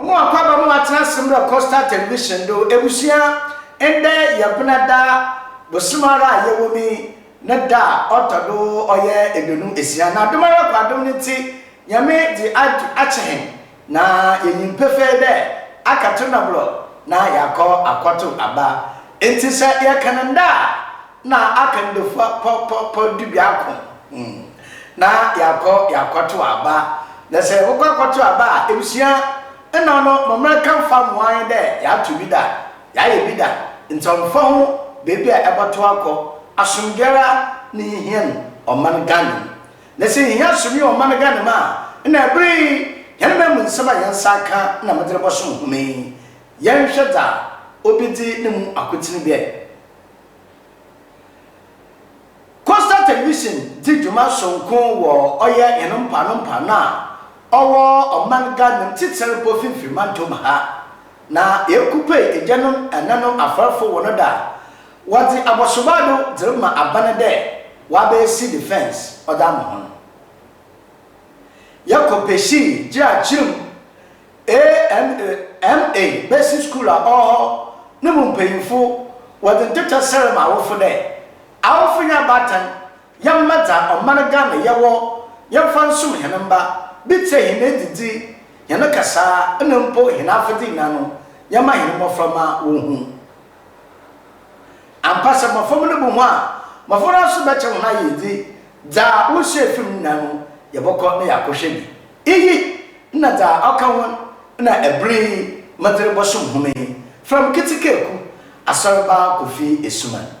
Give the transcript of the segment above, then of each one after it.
Mo a kwaba mo atsena ase mbrɛ Coastal Television do ebusua ndɛ yɛbena da bosoom ara a yɛwɔ mu yi ne da a ɔtɔ do ɔyɛ eduonu esia na adom ara kwa adom no ntsi Nyame dze akyɛ hɛn na yenyim pefee dɛ akato nɔbor na yɛakɔ akɔtow aba ntsi sɛ yɛkan nda a na aka no dafua pɔ pɔ pɔ dubiako mm na yɛakɔ yɛakɔto aba na sɛ mokɔ akɔto aba a ebusua nna no mommrɛ ka mfa mmoa yɛn dɛ yɛato bi da yɛayɛ bi da nti ɔmmfa ho beebi a ɛbɔto akɔ asomdwoe ara na yehia no ɔman Ghana mu na sɛ yehia asomdwoe wɔ ɔman Ghana mu a nna ɛbere yi hɛn man mu nsɛm a hɛn nsa aka na medze rebɔsom hom yi yɛnhwɛ dza obedzi no mu akotsen bia Coastal Television dzi dwuma soronko wɔ ɔyɛ hɛn mpoano mpoano a ɔwɔ ɔman Ghana mu tsitsir mpo finfir mantaw mu ha, na yeekupue egyanom nnanom afarfo hɔn do a wɔdze abɔsoba do dze rema aban dɛ wɔabesi defence ɔdze ama hɔn. Yɛkɔ Peshii, Gyira Kyirim, AMA besi skuul a ɔwɔ hɔ no mu mpanyimfo wɔdze ntetɛ serɛ ma awofo dɛ, Awofo nye abaatan, yɛmma dza ɔman Ghana yɛ wɔ yɛmfa nsom hɛn mba, bi tse hɛn edzidzi, hɛn kasaa na mpo hɛn afɛdze nyina no, yɛmma hɛn mboframba wonhu. Ampa sɛ mbofra mu no bu hɔn a, mbofra no so bɛkyɛ hɔn ayɛ edzi. Dza wosuae fi mu no nyina no, yɛbɔkɔ na yɛakɔhwɛ bi. Iyi na dza ɔka ho na ber yi medze robɔsom hom yi, Fram Ketsekaaku, Asɔrmba Kofi Asuman.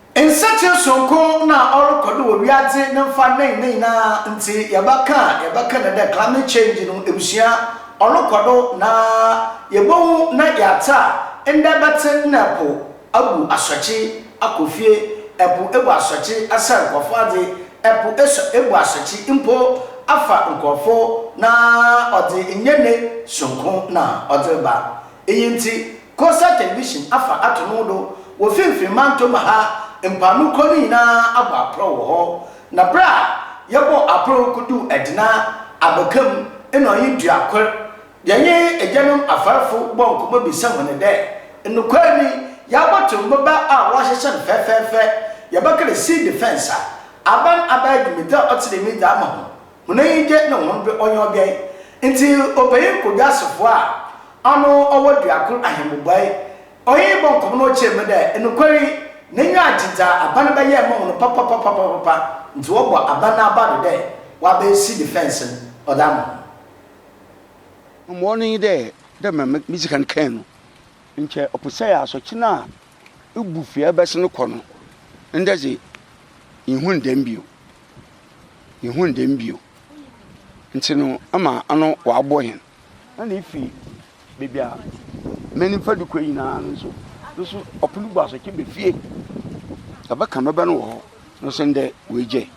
Nsakyera soronko na ɔrokɔ do wɔ wiadze ne mfa nnɛn ne nyinara ntsi yɛbɛkã a yɛbɛkã no dɛ climate change no ebusua ɔrokɔ do na yebohu na yɛatse a ndɛ bɛtse nna po abu asɔkye akɔ fie, po ebu asɔkye asɛɛ nkorɔfo adze, po esɔ ebu asɔkye mpo afa nkorɔfo na ɔdze nnyɛ ne soronko na ɔdze reba. Iyi ntsi Kosa Television afa ato no do wɔ finimfin mantõ ma ha, mpaano kuro no nyina abɔ aprɔw wɔ hɔ. Na ber a yɛbɔɔ aprɔw koduu Edna abaka mu nna ɔnye Duakor, yɛnye egyanom afarfo bɔɔ nkɔmbɔ bisaa hɔn dɛ, Nokwar nye, yɛabɔtow mboba a wɔahyehyɛ no fɛfɛɛfɛ, yɛbɛkã dɛ civil defence a, aban abɛyɛ dwumadzi a ɔtse dɛm yi dze ama hɔn? Hɔn enyi gye na hɔn dɔ ɔnye ɔbɛn. Ntsi Ɔbanyin Odwasofo a ɔno ɔwɔ Duakor Ahenbobae, ɔyee bɔ nkɔmbɔ na ɔkyerɛɛ mu dɛ, Nokwar yi, n'enyiwa agye dza aban bɛyɛɛ ma hɔn papapapapapa, ntsi wɔbɔ aban n'aba do dɛ wɔabesi defence no ɔdze ama hɔn. Mbom ɔno nye dɛ, dɛ mbrɛ midzi kan kãe no, nkyɛ ɔpɛ sɛ asorkye no a ibu fi a ebɛsen kɔ no, ndɛ dze, innhun dɛm bio. yehun dɛm bio. Ntsi no ama ano ɔabɔ hɛn. Nna ifi beebi a me nyimfa do kɔ nyina no so no so ɔpon gu aso kɛba fie. Yɛbɛka me ba no wɔ hɔ no so ndɛ oegyae.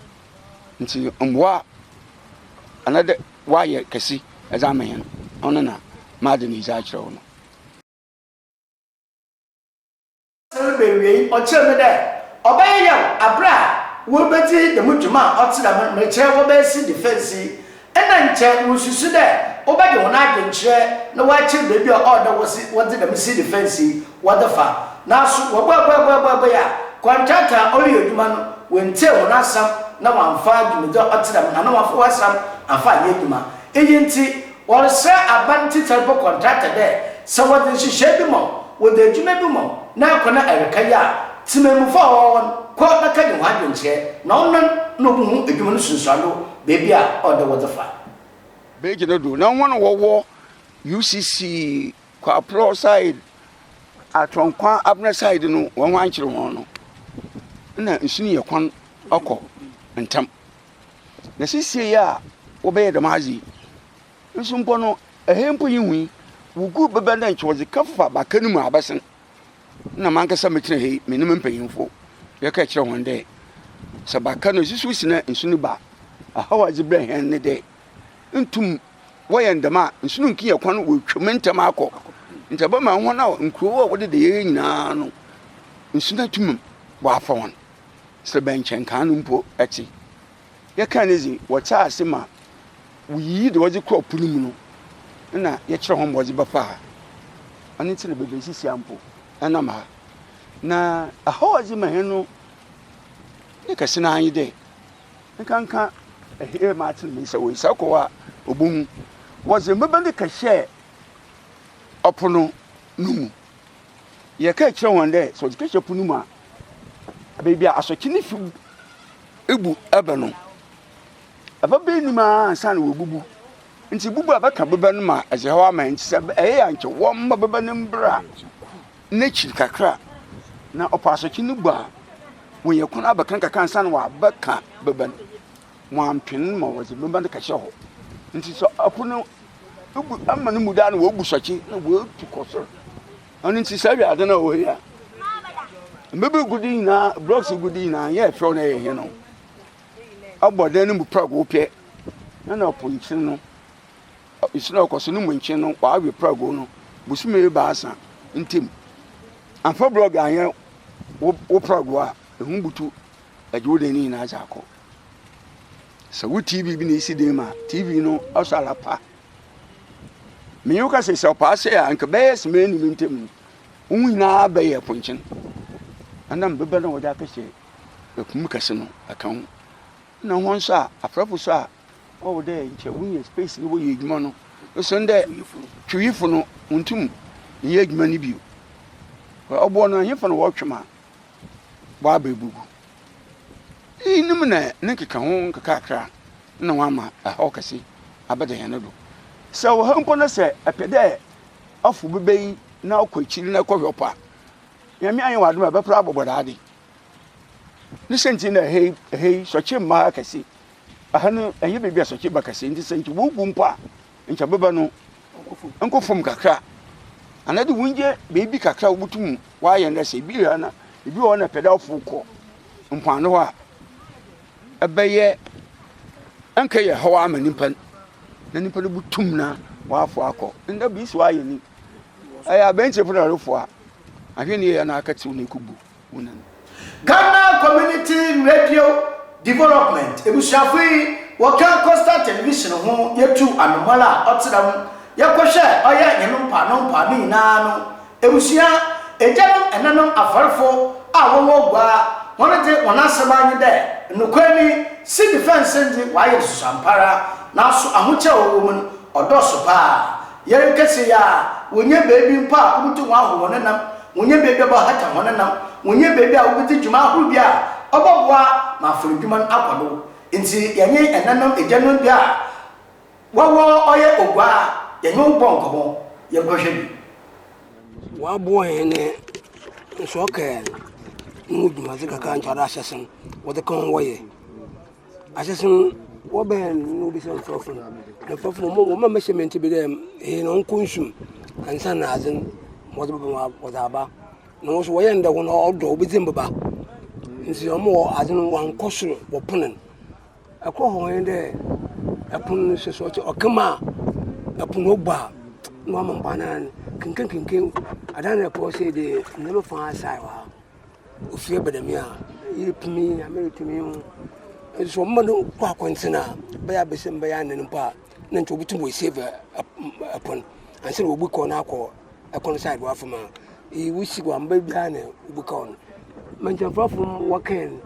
Ntsi mboa a ana dɛ wɔayɛ kɛse dze ama hɛn ɔno na mada no edzi akyerɛ wo no. Ewiei ɔkyerɛɛ me dɛ ɔbɛyɛ yaw aber a woebedzi dɛm dwuma a ɔtse dɛm no, merekyerɛ wɔbɛsi defence yi. Nna nkyɛ murususu dɛ wɔbɛgye hɔn adwen kyerɛ na wɔakyer beebi a ɔwɔ dɛ wɔsi wɔdze dɛm si defence yi wɔdze fa. Naaso wɔbɔɛbɔɛbɔɛbɔɛbɔɛe a, kɔntraaktɔ a ɔreyɛ edwuma no oenntsie hɔn asɛm na ɔammfa dwumadzi a ɔtse dɛm anaa ɔammfa w'asɛm ammfa annyɛ edwuma. Iyi ntsi Wɔresrɛ aban tsitsir mpo kɔntratɛ dɛ sɛ wɔdze nhyehyɛɛ bi ma wo, wɔdze edwuma bi ma wo na akɔ na erekã yi a, tsemamufo a wɔwɔ hɔ no kɔ bɛkã nye hɔn adwenkyerɛ na ɔno na obohu edwuma no nsunsuando beebi a ɔwɔ dɛ wɔdze fa. Beegye no do na hɔn a wɔwɔ UCC, Kwaplɔɔ side, Atronkwa, Abena side no hɔn ho annkyer hɔn no, nna nsu no yɛ kwan ɔkɔ ntsɛm. Na sesei a wɔbɛyɛ dɛm adze yi nso mpo no, hɛn mpo yennhu yi, woguw bɛba dɛ nkyɛ wɔdze kɛfa baka no mu abɛsen. Nna mankasa metsena ha yi, menye me mpanyimfo yɛkaa kyerɛɛ hɔn dɛ, sɛ baka no susuw si na nsu no ba a, ɔhaw a edze brɛ hɛn nye dɛ, nntum wɔyɛ no dɛm a, nsu no nnkenya kwan woetwa mu ntsɛm akɔ, ntsi ɔbɛma hɔn a nkurow a wɔdeda hɛn nyina no, nsu no atum wɔaafa hɔn. Sɛ bɛnkyɛn kan no mpo tse. Yɛkaa no dze, wɔtsaa ase ma woyiyii dza wɔdze kɔr po no mu no na yɛkyerɛɛ hɔn ma wɔdze bɛfaa ha. Ɔno ntsi na beebi a esisi ha mpo nam ha. Na ɔhaw a ɔdze ma hɛn no ne kɛse no ara nye dɛ, nkanka hɛn maatsen me nsa wɔ esiar kɔ hɔ a obohu, wɔdze mbɛbɛ no kɛhyɛɛ ɔpon no mu. Yɛkɛɛ kyerɛɛ hɔn dɛ sɛ wɔdze kɛhyɛ po no mu a, beebi a asɔkye no fi bu bɛ no, bɛba enyim ara ansaana woebubu. Ntsi bubu a bɛka bɛ no ma dze haw ama hɛn. Ntsi sɛ ɔyɛ a nkyɛ wɔmma bɛ no mbra n'ekyir kakra, na ɔpɛ asɔkye no bu a, wonya kwan abɛka nkakrankakra ansaana wɔabɛka bɛ no. Wɔanntwen ma wɔdze bɛma no kɛhyɛ hɔ, ntsi sɛ ɔko no bu ama no mu dɛ a nna wobu sɔkye na woetu kɔ sor. Ɔno ntsi saa wiadze no a ɔwɔ ha yi a mbeber gu do nyina, blocks gu do nyina, nnyɛ fɛw na yɛ hen o. Ɔbɔ dan no mu prɛgow pɛ na na po nkyen no, nsu no a ɔkɔ sor no mu nkyen no ɔawe prɛgow no bosome ebiasa ntamu. Ammfa blɔɔg annyɛ wo prɛgow a, ehum butu gye wo dan no nyina dze akɔ. Sɛ wo TV bi na esi den ma TV no ɔsɔ ara pa. Me yi woka sɛ sɛ ɔpaa sɛ a nka bɛyɛ sima ne me ntam no, wo nyinaa bɛyɛ ponkyen. Ɛnam bɛbɛ na wɔde akɛhyɛ ɛkum kɛse no ɛka ho. Na ho nso a afrɛfo so a ɔwɔ dɛ nkyɛ wonya space no wɔyɛ adwuma no nso ndɛ twiyifo no ntum nyɛ adwuma no bio. Ɔboɔ no ɛhefa na wɔtwe ma? bɔ abɛgugu. Iyinom na ne nkekaho nkekakra na wɔama ɛhaw kɛse abɛda hɛn do. Sɛ ɔha mpo na sɛ ɛpɛ dɛ ɔfow beba yi na ɔkɔ ekyir na ɛkɔhwɛ ɔpɔ a, Nyame ayɛ ɔadom a ɛbɛper abɔbɔ dɛm adze. Ne siantsir na ɛha yi, ɛha yi sɔkye mma ha kɛse. Ɛha no, ɛnnyɛ beebi a sɔkye ba kɛse, ntsi sɛ nkyɛ wogu mpo a, nkyɛ beba no nkɔ fam kakra anaadɛ wonyɛ biribi kakra wobotum w'ayɛ no sɛ ebi a na ebi wɔ hɔ na pɛdɛ ɔfo kɔ mpoano hɔ a ɛbɛyɛ ɛnkɛ yɛ hɔ ama nipa na nipa no botum na w'afo akɔ ndɛ bi si w'ayɛ ni ɛyɛ abɛnkyefo na ɔrefo a ahwɛ ni yɛ na akɛtew na ekobu. Ghana Community Radio Development ebusuafo yi wɔkã Coastal Television ho yetuu anomal a ɔtsena mu yɛkɔ hwɛ ɔyɛ hɛn mpaano mpaano nyina no ebusua egyanom ɛnanom afɔrfo a wɔwɔ Ogua hɔn dze hɔn asɛm ara nye dɛ nokwar nye sea defence ndze wɔayɛ nsusuampara naaso ahokyɛw a ɔwɔ mu no ɔdɔɔso paa Yer kɛse a, wonnya beebi mpo a wobotum ahohor hɔn nam, wonnya beebi a wɔbɔhata hɔn nam, wonnya beebi a wobedzi dwuma ahorow bi a ɔbɔboa ma afɔr edwuma no akɔ do. Ntsi yɛnye ɛnanom egyanom bi a wɔwɔ ɔyɛ Oguaa, yɛnye wo bɔɔ nkɔmbɔ, yɛnkɔhwɛ bi. Wɔaboa hɛn nsorkae no mu dwumadze kakra a ntoado ahyɛse no wɔdze kã ho wɔyɛ. Asese no, wɔbɛn no na wobisa nkurɔfo no, na nkurɔfo no, wɔn a mɛhyɛ me nti bi dɛ, ee na ɔnkɔ nsum ansa na adze no ma ɔdze bɛba mu ɔdze aba. Na wɔn nso wɔyɛ no dɛ hɔn a ɔdɔ wobedzi mbeba ntsi wɔn wɔ adze no wɔankɔ sor wɔpon no. Kor hɔ nye dɛ pon no hyɛ sor, ɔtse ɔkã mu a pon no obu a na ɔama mboano ara n', kenken kenken adan no a ɛkɔ hɔ sei dze ndzɛmba fã asae wɔ ha. Ofie bɛn na me a yɛretumi yi Nyame tumi ho. Nso wɔn no kɔ akɔntene a bɛyɛ abɛsɛ mu bɛyɛ anan mpo a na nti wɔbɛtum wɔ save ɛpon ansa na wɔbu kɔn no akɔ ɛkɔn side wɔ afam a yi wosi wɔ amba biara na wobu kɔn no. Mɛntɛmfrafo wɔkɛn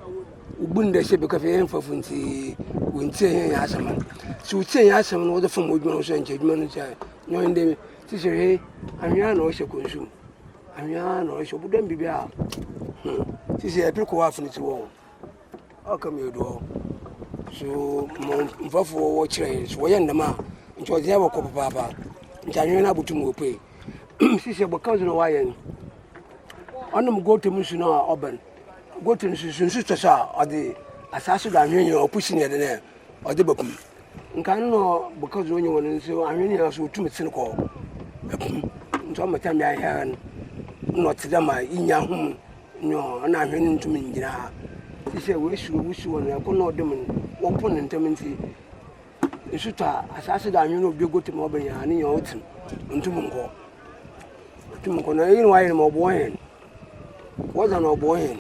wobu no dɛ sɛ bɛkɔ fɛ yɛn mfrafo nti wɔntie yɛn yɛn asɛm no. Sɛ wɔtie yɛn asɛm no wɔde fam adwuma no so a nkyɛ adwuma no sɛ nyɔn dɛ sisi he anwea na ɔhyɛ kɔnsu mu. Anhwea na ɔhyɛ ɔbudam bibi a hmm sisi ɛpiri kɔ afini ti wɔ ɔka mi odoɔ so mo nfɔfo wɔ kyerɛ so wɔyɛ ndɛm a nti ɔdze ɛwɔ kɔ papaapa nti anhwea na abutum wɔ pue sisi ɛbɔ kansu na wɔayɛ no ɔnom goto mu nsu na ɔbɛn goto nsu nsu tɔ so a ɔdze asaase do anhwea nyina ɔpusi ne ɛdɛ nɛ ɔdze bɛko mu. Nkan no na bɔkɔ dze ɔnye hɔn nso anhwɛ ne nyinara so otum sen kɔ ɛpo mu. Nso ama tam bia hɛn no na ɔtse dɛ ma iyi nyɛ ahom no na anhwɛ no nntum nngyina ha. Tse sɛ w'esu wusu hɔn ɛko na ɔdom no wɔpo no ntam ntsi nsu tɔ a asaase do anhwɛ no obi ogotu ma ɔbɛn a ne nyinara otsim onntum nnkɔ. Otum nnkɔ na iyi na ɔayɛ no ma ɔboa hɛn. Wɔdze ano ɔboa hɛn.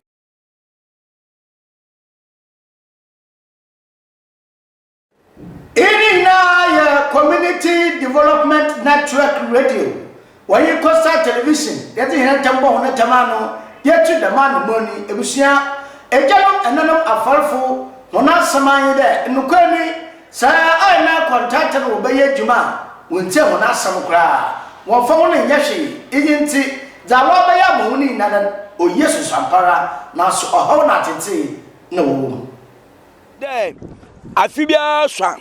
Iyi ne nyinara yɛ Community Development Network Radio, wɔnye Coastal Television yɛdze hɛn ntam bɔ hɔn ntam ano dze etu dɛm anamɔn yi. Ebusua, egyanom, enãnom, afarfo, hɔn asɛm ara nye dɛ, nokwar nye dɛ, sɛ nna akɔntaatse no wɔbɛyɛ edwuma a, wonntsie hɔn asɛm koraa, wɔmmfa hɔn nnyɛ hwee. Iyi ntsi, dza wɔabɛyɛ ama hɔn nyinara no, oye susuampara, naaso ɔhaw na atsetsee na wɔwɔ mu. Dɛ afe biara so a,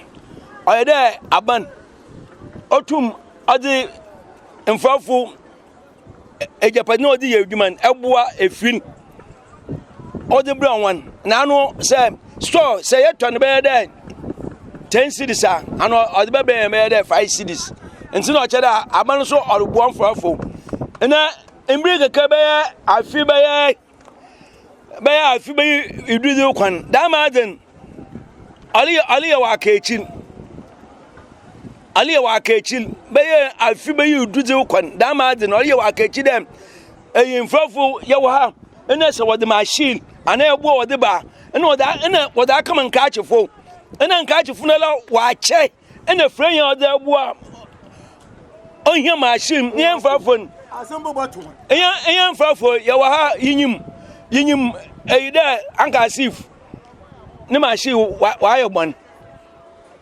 ɔyɛ dɛ aban otum ɔdze mfɛfo egyapadze na ɔdze yɛ edwuma no boa efir no ɔdze brɛ hɔn. Na ano sɛ store sɛ yɛtɔ no bɛyɛ dɛ ten cedis a, ano ɔdze bɛbrɛ hɛn bɛyɛ dɛ five cedis. Ntsi na ɔkyerɛ dɛ aban so ɔroboa mfɛfo. Na mber kakra bɛyɛ afe bɛyɛ. bɛyɛ afe bɛyi edu dze kwan dɛm ama adzen ale aleyɛ wɔ akakyir aleyɛ wɔ akakyir bɛyɛ afe bɛyɛ edu dze kwan dɛm ama adzen ɔreyɛ wɔ akakyir dɛ ayimfɛfo yɛwɔ ha nna sɛ wɔdze machine anaa ɛboɔ wɔdze ba a nna wɔdze a nna wɔdze akɛma nkaakyefo nna nkaakyefo no la wɔakyɛ. ɛna fira yɛn ɔdze aboa ɔhia machine ne yɛn mfrafo no yɛn mfrafo yɛwɔ ha yinyim yinyim ɛyi dɛ anka asif ne machine wayɛ bɔn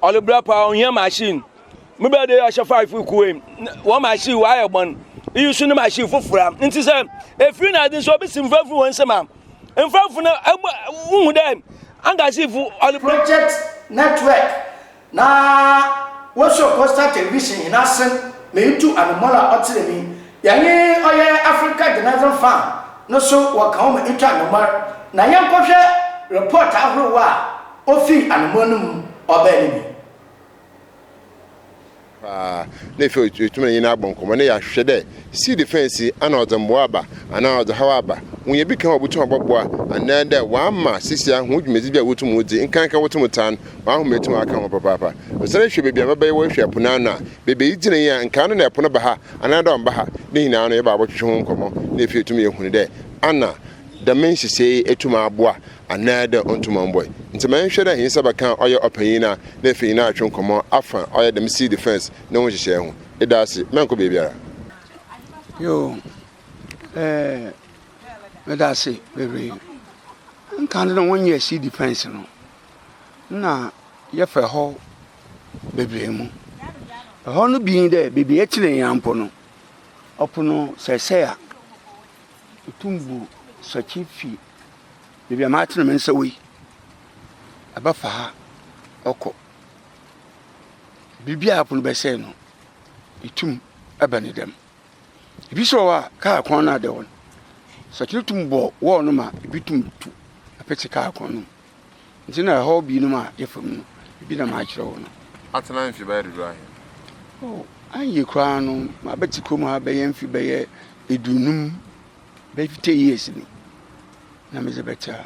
ɔde bra paa ɔhia machine mebɛ de ahyɛ five kuwe wɔn machine wayɛ bɔn iyi nso ne machine foforɔ nti sɛ efiri na adi nso obi si mfrafo wɔn nsɛm a. mfɛfo no hu dɛ Angasifo ɔle. Project Network na wɔsuo Coastal Television hɛn ase ma itu Anomola Ɔtsenenyi, yɛnye ɔyɛ Africa Journalism Fund no so wɔ kã wo ma itu Anomar na yɛnkɔhwɛ report ahorow a ofi Anomar no mu ɔbaa no mu. paa na efi otum na nyina abɔ nkɔmbɔ na yɛahwɛ dɛ si defense ana ɔdze mboa aba anaa ɔdze haw aba, wonya bi kã a obotum abɔboa anaa dɛ wɔama sisia hɔn dwumadzi bi a wotum wodzi, nkanka wotum tse ano, wɔahom etum akã ho papaapa. Ɔsan hwɛ beebi a mbaba yi wɔhwɛ po no ano a, beebi a idzina yi a nka ano na po no ba ha anaa dɛ ɔmmba ha, ne nyina no yɛba abɔtwetwe ho nkɔmbɔ na efi etum yehun dɛ ana dɛm nhyehyɛɛ yi etum aboa anaa dɛ ɔnnto ma ɔmbɔe. Ntsi ma yɛnhwɛ dɛ hɛn nsa bɛkã ɔyɛ ɔpanyin no a nna efi nyinara rotwe nkɔmbɔ afa ɔyɛ dɛm civil defence no ho nhyehyɛɛ ho. Eda ase, mɛnnkɔ beebiara. Yo, eh, meda ase beberee. Nkan no nna wɔnnyɛɛ civil defence no, nna yɛfa hɔ beberee mu. Hɔ no bi nye dɛ beebi a yɛtsenee yi ara mpo no, ɔpon no sɛɛsɛɛ a, itum bu sakye fi. Beebi a matsen me nsa wɔ yi, ɛbɛfa ha kɔ. Biribi a pon bɛsɛɛ no, itum bɛn no dɛm. Bi so wɔ hɔ a, kaar kwan no ada hɔ no, sɔkyer tum bɔ wall no ma bi tum tu petse kaar kwan no mu. Ntsi nna haw binom a yɛfa mu no, bi na makyerɛ wo no. Atsena mfe bɛyɛ dodow ahen? Oh, annhye koraa no, mabɛtse kurom ha bɛyɛ mfe bɛyɛ eduonum. Bɛyɛ fifty years ni na medze bɛtse ha.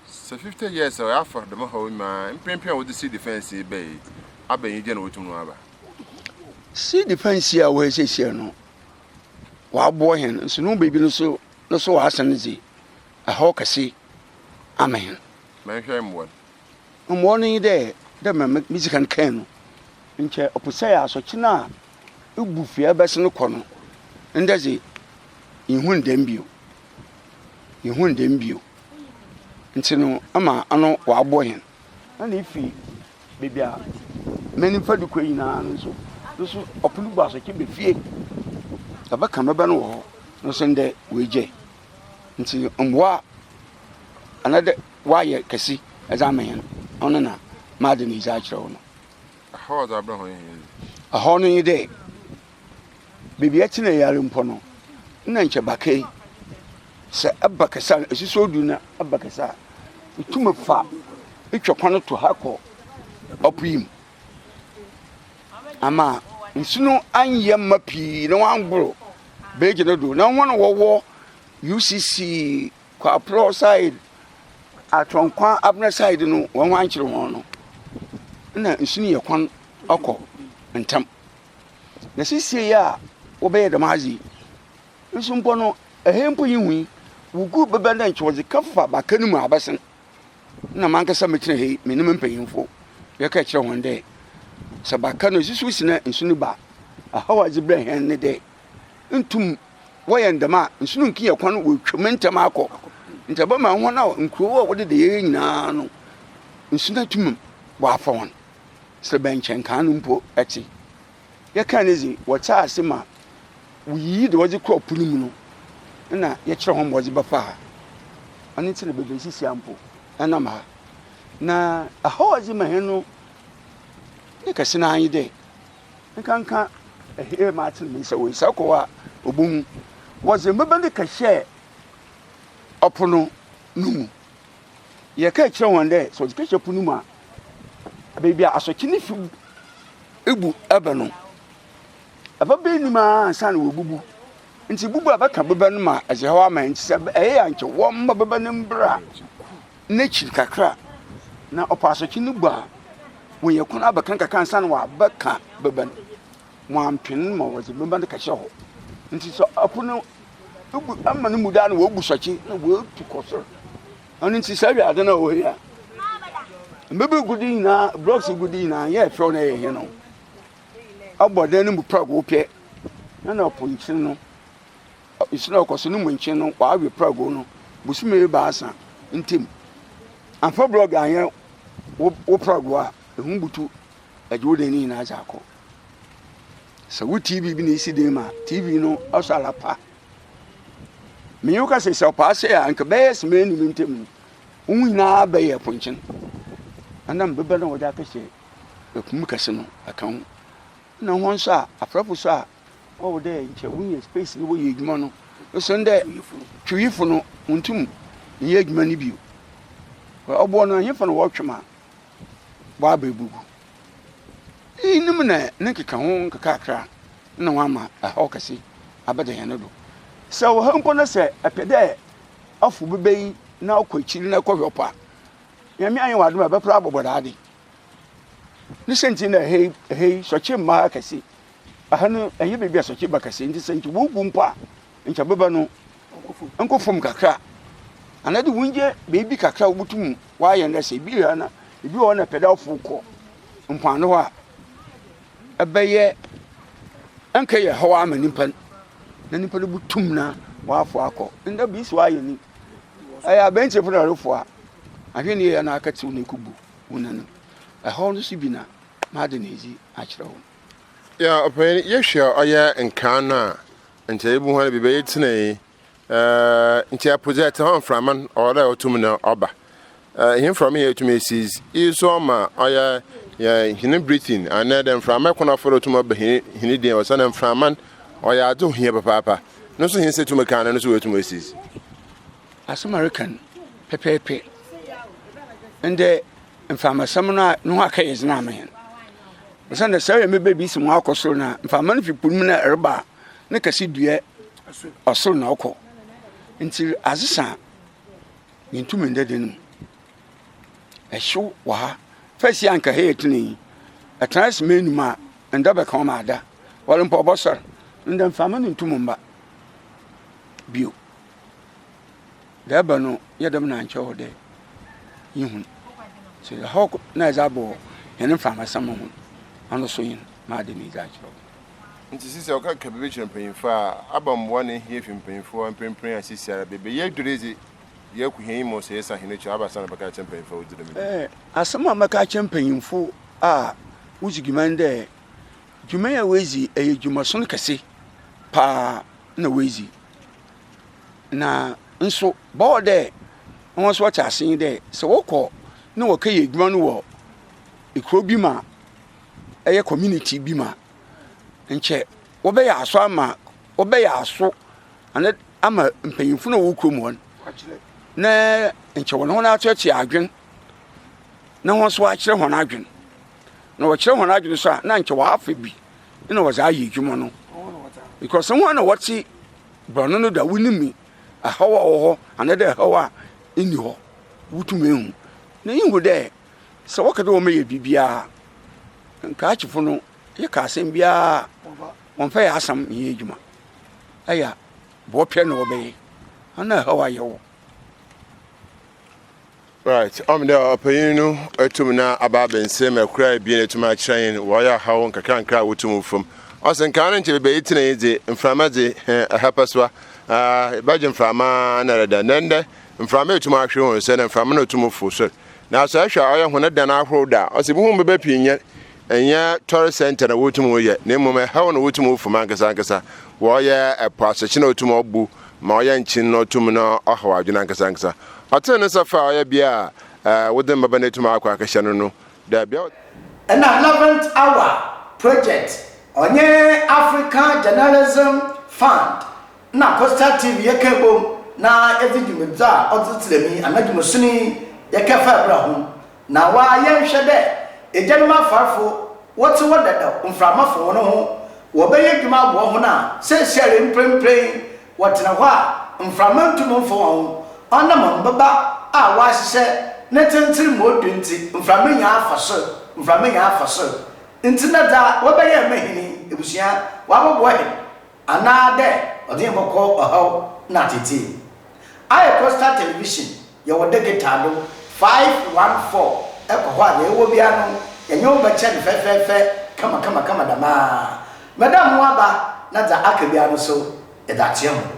Sɛ fifty years a, ɔyɛ afɔr dɛm ɔhaw yi ma mprempren a wɔdze sea defence yi bae yi aba enyigye na wotum no aba. Sea defence yi a ɔwɔ ha siesie no, wɔaboa hɛn nso no beebi no so no so wɔasan dze ɛhaw kɛse ama hɛn. Mɛnhwɛ mboa no. Mboa no nye dɛ, dɛ mbrɛ medzi kan kãe no, nkyɛ ɔpɛ sɛ yɛ asɔkye no a Ibu fi a ɛbɛsen kɔ no, ndɛ dze innhun dɛm bio. Innhun dɛm bio. Ntsi no ama ano ɔabɔ hɛn. Nna ifi beebi a m'enyimfa do kɔ nyina no so, no so ɔpon do baasa ɔkyɛ ba fie, yɛbɛka me ba no wɔ hɔ, no so ndɛ oegyae. Ntsi mboa a anaadɛ wɔayɛ kɛse dze ama hɛn, ɔno na m'adze no edze akyerɛ wo no. Ɛhaw a ɔdze abrɛ hɔn hɛn dze. Ɛhaw no nye dɛ, beebi a etse na eyɛ ara mpo no, nna nkyɛ baker sɛ eba kɛse a, esusu odur na eba kɛse a, itum fa itwa kwan to ha kɔ ɔpoe mu. Ama nsu no annyɛ mma pii na wɔanngor beegye no do. Na hɔn a wɔwɔ UCC Kwaporɔ side, Atɔnkwa Abena side no wɔn ankyere wɔn no na nsu no yɛ kwan ɔkɔ ntam. Na sisie yi a wɔbɛyɛ dɛm adze yi nso mpo no ɛhɛn mpo yi hui wogu bɛbɛn dɛ nkyɛ wɔdze kɛfa baka no mu abɛsen. Na mankasa metsena ha yi menye me mpanyimfo yɛka kyerɛ hɔn dɛ sɛ baka no esusuw si na nsu no ba a, ɔhaw a ɔdze brɛ hɛn ne dɛ, nntum wɔyɛ ndɛm a, nsu no nnkenyɛ kwan no woetwa mu ntsɛm akɔ. Ntsi ɔbɛma hɔn a nkurow a wɔdeda yie nyina no, nsu no atum ɔafa hɔn, serɛbɛnkyɛn kan no mpo tse. Yɛkaa no dze, wɔtse ase ma woyiyi dza wɔdze kɔr po no mu no, nna yɛkyerɛ hɔn ma wɔdze bɛfa ha. Ɔno ntsi na beebi a yesisi ha mpo, yɛnam ha. Na ɔhaw a ɔdze ma hɛn no ne kɛse no ara nye dɛ, nkanka hɛɛ ma atsen me nsa wɔ nsa kɔɔ a obohu. Wɔdze mboba no kɛhyɛɛ ɔpon no mu. Yɛkaa kyerɛɛ hɔn dɛ sɛ wɔdze kɛhyɛ pon no mu a, beebi a asɔkye no fi bu bɛ no, ababa enum ara ansaana woebubu. Ntsi bubu a bɛka boba no ma adze haw ama hɛn, ntsi sɛ ɛyɛ a nkyɛ wɔmma boba no mbra. N'ekyir kakra na ɔpaa asɔkye no bua hɔn yɛ kwan abɛka no kakra ansaana ɔabɛka bɛba no. Wɔammpen ma wɔdze bɛba no kɛhyɛ hɔ. Ntsi sɛ ɔpo no bu ama no mu do a na wobu sɔkye na woetu kɔ sor. Ɔno ntsi saa wiadze no a ɔwɔ ha yi a mbeber gu do nyina, blocks gu do nyina, nnyɛ fɛw na yɛ hen o. Ɔbɔ dan no mu prɛgow pɛ na na ɔpo nkyene no. Nhyira a ɔkɔ so no mu nkyen no ɔawe prɛgow no bosome ebiasa ntamu. Ammfa brɔg annyɛ wo prɛgow a, ehu butu gye wo dan no nyina dze akɔ. Sɛ wo TV bi na isi dan mu a, TV no ɔsɔ ara pa. Menye wo kasa yi, sɛ ɔpaa sɛɛ a, nka bɛyɛ semee ne me ntamu no, wo ho nyina bɛyɛ ponkyen. Anam bebɛ no a wɔdze akɛhyɛ po mu kɛse no ka ho. Nna hɔn so a, afrɛfo so a Ɔwɔ dɛ nkyɛ wonya space no wɔyɛ edwuma no osian dɛ Twewifo no onntum nnyɛ edwuma no bio. Ɔboɔ no, henfa na wɔtwe ma wɔaba ebogu? Iyinom na ne nkekaho nkakrankakra na wɔama haw kɛse abɛda hɛn do. Sɛ ɔwɔ ha mpo na sɛ epɛ dɛ afow beba yi na ɔkɔ ekyir na ekɔhwɛ ɔpɔ a, Nyame ayɛ wo adom a ebɛper abɔbɔ dɛade. Ne siantsir nye dɛ ha yi, ha yi, sɔkye mma ha kɛse. Aha no ɛnyɛ baabi a sɔkye ba kɛse nti sɛ nkyɛ wogu mpo a nkyɛ bɛba no nkɔ fam kakra anaa de wonyɛ baabi kakra a wobutum wayɛ no sɛ ebi ha na ebi wɔ hɔ na pɛda ɔfo kɔ mpoano hɔ a ɛbɛyɛ ɛnkɛ yɛ hɔ ama nipa na nipa no butum na wafo akɔ nda bi so ayɛ ni ɛyɛ abɛnti fo na ɔrefo a ahwɛ ne yɛ na akɛtew na ekubu wo nanim ɛhɔ no so bi na maade na edzi akyerɛ wo Ɔpanyin, yɛhwɛ a ɔyɛ nkaa no a, nkyɛ yebohu ara biribi ayɛ tsena yi. Nkyɛ ɛpo dze ɛtse hɔ a mframa no ɔwɔ dɛ ɔto mu na ɔba. Iyi mframa yi etum esiz, iyi so ɔma ɔyɛ hɛn breathing anaa dɛ mframa kwan a ɔfa do tum ba hɛn dan mu osiandɛ mframa no ɔyɛ adze ohia papaapa. No so hɛn nsa tum ka a no so oetum esiz. Asɛm a ereka no pɛpɛɛpɛ. Ndɛ Mframa sɛm no a no ho akɛyɛ dze na ama hɛn. Osiandɛ sɛ ɔyɛ mebɛ bi si mu akɔ sor no a, mframa no fi po no mu na reba a, ne kɛse dua ɔsor na ɔkɔ. Ntsi adze sa a, yenntum nda dan mu. Hyew wɔ ha. First yi a anka ha yɛ tsenee yi, etsena ase ma enuma a, nda bɛka wo ma ada. Ɔwɔle mpo ɔbɔsoɛr. Ndɛ mframa no nntum mmba bio. Dza ɔba no yɛ dɛm na ɔannkyerɛ hɔ dɛ yehun. So dza hɔ na edze abɔ hɛn mframbasamma ho ano so nye m'adwen yi dze akyerɛ wo? Ntsi sesei ɔka keka biribi kyerɛ mpanyimfo a, aba mboa na ehia fi mpanyimfo hɔ a, mprempren a seseiara beebi a yedur yi dze, yɛako hɛn enyim ɔsɛ yɛsan hɛn ekyir a, aba asan abɛka akyerɛ mpanyimfo a wodzi dɛm dwuma yi. Asɛm a mɛka akyerɛ mpanyimfo a wodzi dwuma nye dɛ, dwuma yi a woedzi yɛ dwumason kɛse paa na woedzi. Na nso bɔɔ dɛ hɔn so wɔtse ase nye dɛ, sɛ wɔkɔ na wɔkɛyɛ edwuma no wɔ ekurow bi mu a, ɔyɛ community bi mu a, nkyɛ wɔbɛyɛ aso ama, wɔbɛyɛ aso ana ama mpanyimfo no a wɔwɔ kurom hɔ no, na nkyɛ wɔnye hɔn atseatsea adwen na hɔn so wɔakyerɛ hɔn adwen. Na wɔkyerɛ hɔn adwen so a, na nkyɛ wɔafa bi na wɔdze ayɛ edwuma no. Because hɔn na wɔtse Borɔno no da, wonim me, ɛhaw a ɔwɔ hɔ anaadɛ ɛhaw a nni hɔ, wotum ehu. Na iyi hu dɛ, sɛ wɔkã dɛ wɔmɛyɛ biribiara a, Nkrakyefo no yɛkã asɛm biara a, wɔmmfa yɛ asɛm nnyɛ edwuma. Aya, bɔɔpɛ na wɔbɛyɛ, ana ɛhaw a yɛwɔ. Right, ɔm dɛ ɔpanyin no etum na aba abɛnsɛm mu ɛkor a ebien etum akyerɛ hɛn wɔ ɔyɛ ahaw nkakrankra a wotum wofam. Ɔse nkaa no nkyɛ beebi a yetsena yi dze mframa dze hɛn ɛha pɛsoa, aah bɛgye mframa ara na dɛdɛn. Na ndɛ mframa etum ahwer hɔn sɛ na mframa na otum fow sor. Naaso ɛhwɛ a ɔyɛ hɔn dan ahorow do a ɔse ibohu mbobaa pii nnyɛ Ɛnyɛ tɔre sɛnkyɛ na wotumi yɛ, na mmom ɛhɛw na wotumi fam ankasa ankasa. Wɔyɛ ɛpo asekye na otum ɔbu ma ɔyɛ nkyen na otum na ɔhaw adwene ankasa ankasa. Ɔtee ne nsa faa ɔyɛ bea a ɛɛ wode mbaba na etum akɔ akɛhyɛ no no dɛ bea a. Ɛna Eleventh Hour Project ɔnye Africa Journalism Fund na Coastal TV yɛkaa bom na yɛdze dwumadzi a ɔdze tsera mu yi anadwo mu soni yɛkɛfaa bra ho. Na wa yɛ nhwɛ dɛ egyanom afarfo wɔtse hɔ dadaw mframa fo hɔn ho, wɔbɛyɛ edwuma aboa hɔn a seseiara yi mprempren wɔtsena hɔ a mframa nntum mmfa hɔn ho, ɔnam mbaba a wɔahyehyɛ ne tsentsen mu odu ntsi, mframa nya fa sor, mframa nya fa sor ntsi na dza wɔbɛyɛ ma hɛn yi, ebusua, wɔabɔboa hɛn anaa dɛ ɔdze hɛn bɔkɔ ɔhaw na atsetsee. Ayɛ coastal television Yɛwɔ dɛkɛtaa do five one four kɔ hɔ a dza yɛwɔ biara no yɛnye wo bɛkyɛ no fɛfɛɛfɛ kamakamakama dɛm ara. Madam mo aba na dza aka biara no so yɛdze akyerɛ hɔn.